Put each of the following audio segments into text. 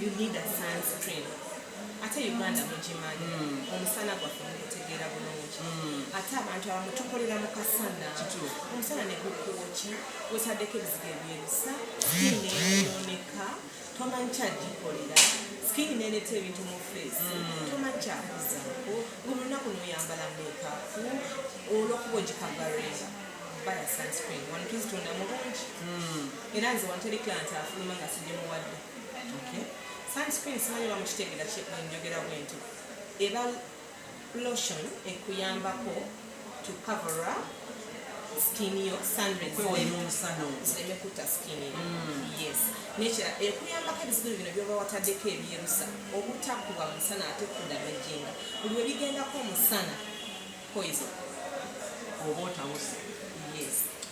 You need a sunscreen. ate uganda mugimanyi hmm. omusana gwaffe mugutegeera bulungi hmm. ate abantu abamu tukolera mu kasana omusana ne gukwokya wetaddeko ebizigo ebyerusa sikiini eyooneka tomanyi kyagikolera sikiini nereeta ebintu mu feesi hmm. tomanyi kyakuzaako ngolunaku noyambala mekapu olwokuba ogikagareera baya sunscreen wano tuzitunda mu bungi era nze wanterekiranti afuluma nga sigimuwadde sunscreen simanyi oba mukitegera kyenjogera bwenti eba lotion ekuyambako to cover up skin yo sunrezireme kutta skin yo mm. yes nekira ekuyambako ebizibu bino byoba wataddeko ebyerusa obutakuba musana ate kudamejinga buli webigendako omusana poison oba otawusa yes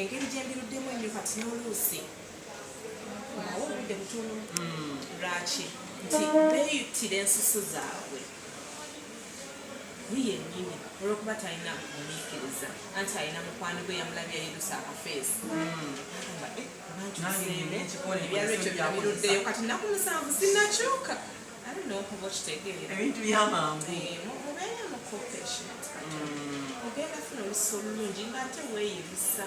engeri gyembiruddemu ennyo kati n'oluusi nawo obudde butono hmm. lwaki nti beeyitira ensusu zaabwe yiye nyini olwokuba talina omuyikiriza anti alina mukwano gwe yamulabye yayidusa akafeesi hmm. eh, ebyalo ekyo byabiruddeyo kati naku musanvu sinakyuka ebintu byamangu eh, ogenda funa olusi olulungi ngaate weeyibisa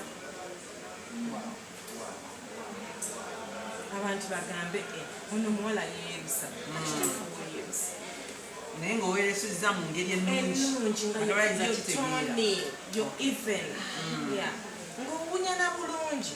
abantu bagambe eh, ono omuwala yeeyibisa naye ngaoweresezza mu ngeri ennungi ngaoyogera bulungi